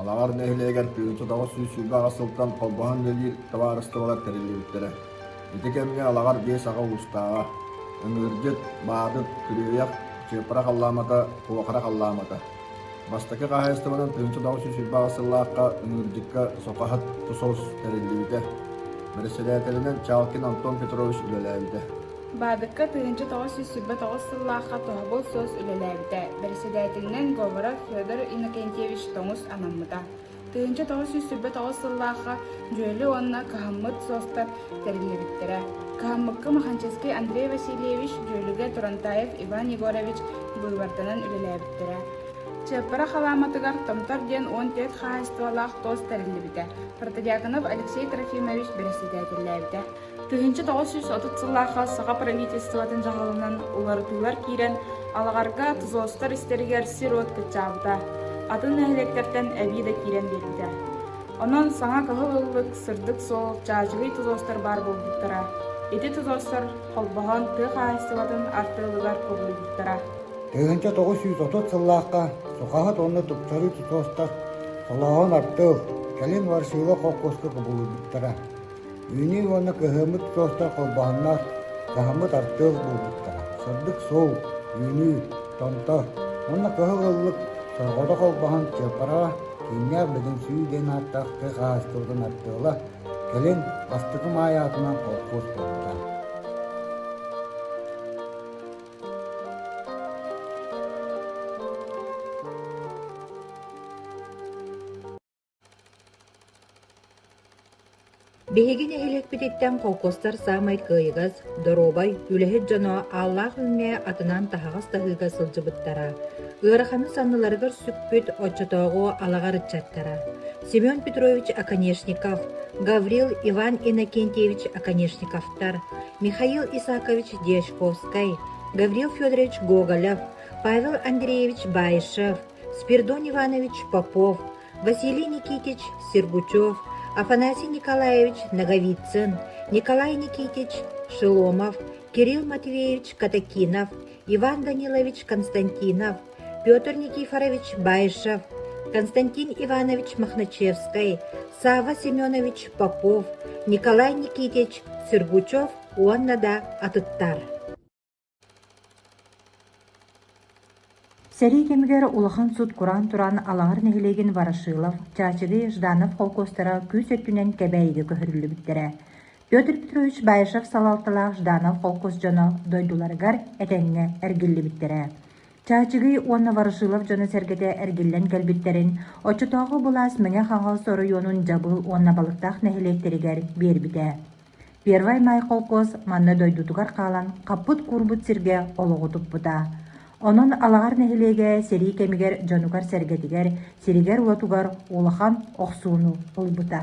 Алаҕар нэһилиэгэр тыгынчытоҕу сүүс сүүрбэ аҕыс сылтан холбоһон үлэлиир табаарыстыбалар тэриллибиттэрэ. Ити кэмҥэ Алаҕар биэс аҕа уустааҕа, Ыҥыырдьыт, Баадыт, Күрүөйэх, Чыапара халлаамата, Куохара халлаамата, Бастакы хаһаайыстыбанан тыһыынча тоҕус сүүс сырбаҕас сыллаахха Нырдьыкка сокаһыт тусос тэриллибитэ. Бэрэссэдээтэлинэн Чалкин Антон Петрович үлэлээбитэ. Баадыкка тыһыынча тоҕус сүүс сырба тоҕус сыллаахха тоһоҕой суос үлэлээбитэ. Бэрэссэдээтэлинэн говора Федор Иннокентьевич тоҥус анаммыта. Тыһыынча тоҕус сүүс сүүрбэ тоҕус сыллаахха дьүөлэ уонна кыһаммыт суостар тэриллибиттэрэ. Кыһаммыкка Маханчаский Андрей Васильевич, Дьүөлүгэ Турантаев Иван Егорович быыбарданан үлэлээбиттэрэ. Чыаппара халааматыгар Томтор диэн уон түөрт хаһаайыстыбалаах туос тэриллибитэ. Протодиаконов Алексей Трофимович бэрэссэдээтэллээбитэ. Тыһыынча тоҕус сүүс отут сыллаахха саха правительствотын дьаһалынан уларытыылар киирэн, алаҕарга ТЗОСтар истэригэр сир-уот кыччаабыта, атын нэһилиэктэртэн эбии да киирэн биэрбитэ. Онон саҥа кыһыл ыллык, сырдык суол, чаачыгый ТЗОСтар баар буолбуттара. Ити ТЗОСтар холбоһон тыа хаһаайыстыбатын арты ылыгар кубулуйбуттара. Тыһыынча тоҕус сүүс отут сыллаахха сухаһыт уонна тупсарыы ТЗОСтар солооһун артыыл, кэлин Варшила холкуоска кубулуйбуттара. Үүнүү уонна кыһыыммыт куолта холбоһоннор, хаһыммыт артыал буолбуттара. Сырдык суол, үүнүү, томто уонна кыһыл ыллык сорҕото холбоһон чыаппараҕа Кииннээх Бөдөҥсүйүү диэн ааттаах тыа хаһаайыстыбатын артыала кэлин бастакы маай аатынан холкуос буолбута. Биһиги нэһилиэкпититтэн холкуостар саамай кыайыгас, доруобай, үлэһит дьоно ааллаах үүҥҥэ атынан таһаҕас таһыыга сылдьыбыттара, ыараханы санныларыгар сүкпүт оччотооҕу алаҕар ыччаттара Семен Петрович Оконешников, Гаврил Иван Иннокентьевич Оконешниковтар, Михаил Исакович Дьячковскай, Гаврил Федорович Гоголев, Павел Андреевич Баишев, Спирдон Иванович Попов, Василий Никитич Сергучев, Афанасий Николаевич Ноговицын, Николай Никитич Шеломов, Кирилл Матвеевич Катакинов, Иван Данилович Константинов, Петр Никифорович Баишев, Константин Иванович Мохначевский, Сава Семенович Попов, Николай Никитич Сергучев уонна да атыттар. Сэрии кэмигэр улахан сут кураан туран Алаҥар нэһилиэгин Ворошилов, Чаачыгый, Жданов холкуостара күүс өттүнэн Кэбээйигэ көһөрүллүбүттэрэ. Петр Петрович Баишев салалталаах Жданов холкуос дьоно дойдуларыгар этэҥҥэ эргиллибиттэрэ. Чаачыгый уонна Ворошилов дьоно-сэргэтэ эргиллэн кэлбиттэрин оччотооҕу былаас Мэҥэ-Хаҥалас оройуонун Дьабыыл уонна Балыктаах нэһилиэктэригэр биэрбитэ. Первай Маай холкуос манна дойдутугар хаалан хаппыт-куурбут сиргэ олоҕу туппута. Онон Алаҕар нэһилиэгэ сэрии кэмигэр дьонугар-сэргэтигэр, сиригэр-уотугар улахан охсууну ылбыта.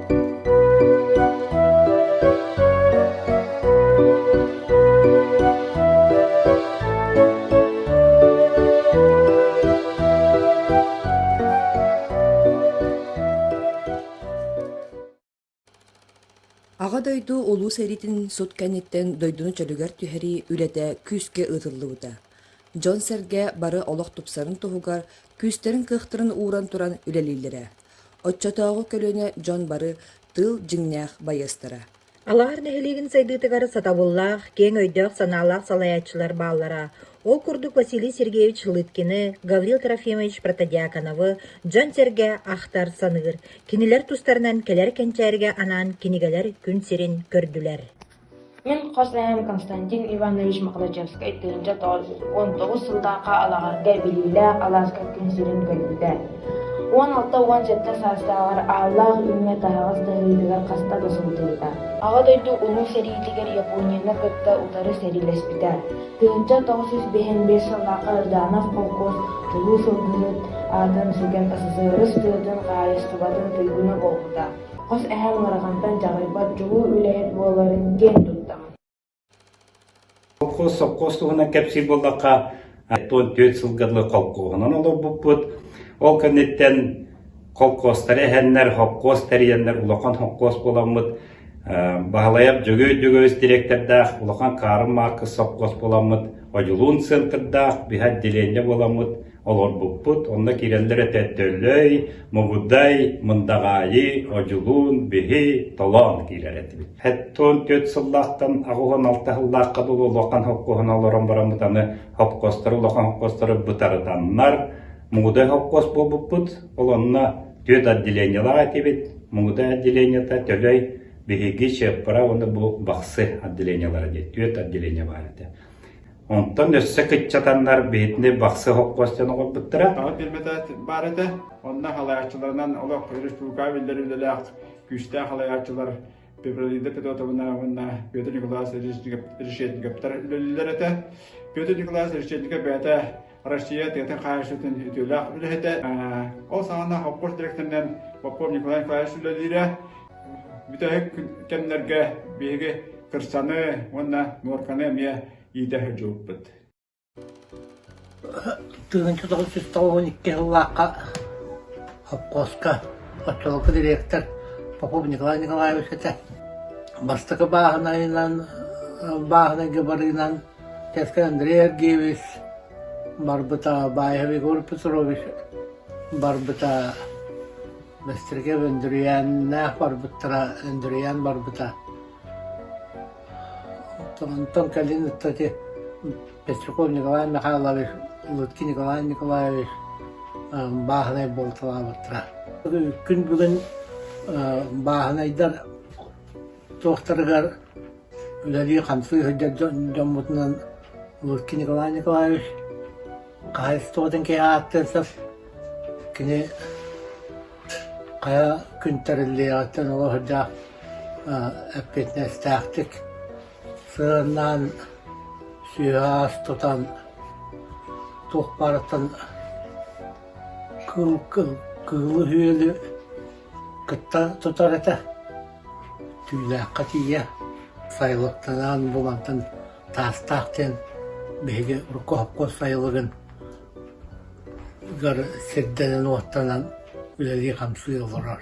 Аҕа дойду Улуу сэриитин сут кэнниттэн дойдуну чөлүгэр түһэрии үлэтэ күүскэ ыытыллыбыта. Дьон-сэргэ бары олох тупсарын туһугар күүстэрин-кыахтарын ууран туран үлэлииллэрэ. Оччотооҕу көлүөнэ дьон бары тыл дьиҥнээх байыастара. Алаар нэһилиэгин сайдыытыгар сатабыллаах, киэҥ өйдөөх-санаалаах салайааччылар бааллара. Ол курдук Василий Сергеевич Лыткины, Гаврил Трофимович Протодьяконовы дьон-сэргэ ахтар-саныыр, кинилэр тустарынан кэлэр кэнчээргэ анаан кинигэлэр күн сирин көрдүлэр. Мин хос эһэм Константин Иванович Мохначевскай тыһыынча уон тоҕус сыллаахха Алаҕарга билиилээх алааска күн сирин көрбүтэ, уон алта уон сэттэ саастааҕар ааллаах үүҥҥэ таһаҕас таһыытыгар хаста да сылдьыбыта. Аҕа дойду Улуу сэриитигэр Японияны кытта утары сэриилэспитэ. Тыһыынча тоҕус сүүс биэһинбиэс сыллаахха Ырдаанов холкуос Улуу сылгыһыт аатын сүгэн СССР ыстыытын хаһаайыстыбатын туйгуна буолбута. Хос эһэм ыарахантан дьаҕайбат дьулуу үлэһит буоларын диэн турдаҕым сопхуос туһунан кэпсиир буоллахха, оттон түөрт сылга дылы холкуоһунан олорбуппут. Ол кэнниттэн холкуостары эһэннэр, хоккуос тэрийэннэр улахан хоккуос буоламмыт, Баһылайап Дьөгүөй Дьөгөбүс директордаах улахан Каарым Мааккыс сопхуос буоламмыт, Одьулуун центрдаах биһа отделение буоламмыт, Олорбуппут онно киирэллэр этэ Төлөй, Мугудай, Мындаҕаайы, Одьулуун, биһи, толоон киирэр этибит. Хэттон түөрт сыллаахтан аҕыһын алта сыллаахха дылы улахан хоккоһун олорон бараммыт аны хопкостары улахан хопкостары бытарытаннар Мугудай хопкос буолбуппут. Ол онно түөрт отделениелаах этибит. Мугудай отделениета Төлөй биһиги Чеппара уонна бу Бахсы отделениелара диye түөрт отделение бар этэ. Онтон өссө кыччатаннар биһитини бахсы хоппос дьон оҥорбуттара. Саҥа биэрбэтэ баар этэ. Онно халайааччыларынан олох республикаҕа биллэр үлэлээх күүстээх халайааччылар Пепронида Петровна уонна Петр Николаевич Решетниковтар үлэлииллэр этэ. Петр Николаевич Решетников бэйэтэ Россия тыатын хаһаайыстыбатын үтүөлээх үлэһитэ. Ол саҕана Хоппос директорынан Попов Николай Николаевич үлэлиирэ. Бүтэһик кэмнэргэ биһиги кырсаны уонна нуорканы эмиэ иитэ сылдьыбыппыт. Тыгынчы тоҕус жүз тоҕуһун икки сыллаахха Хоппоска оттолоко директор Попов Николай Николаевич этэ. Бастакы бааһынайынан бааһынайга барыынан Кэска Андрей Аргиевич, барбыта Баиһов Егор Петрович, барбыта Бэстиргэ Өндүрүйээннээх барбыттара, Өндүрүйээн барбыта. Онтон кэлин ытта ити Пестряков Николай Михайлович, Лыткин Николай Николаевич бааһынай буолталаабыттара. Күн бүгүн бааһынайдар туохтарыгар үлэлии-хамсыы сылдьар дьоммутунан Луркин Николай Николаевич хаһаайыстыбатын киһи ааттыырсар кини хайа күн тэриллиэҕиттэн оло сылдьа эппиэтинэстээхтик сыһыаннаан сүөһэ-аас тутан туох баарыттан кыылы-үһүөлү Кытта тутар этэ, түүлээххэ тиийэ сайылыктанаан булантан таастаах диэн биһиги оргуһукпут сайылыгын сирдэнэн-уоттанан үлэлии-хамсыы олорор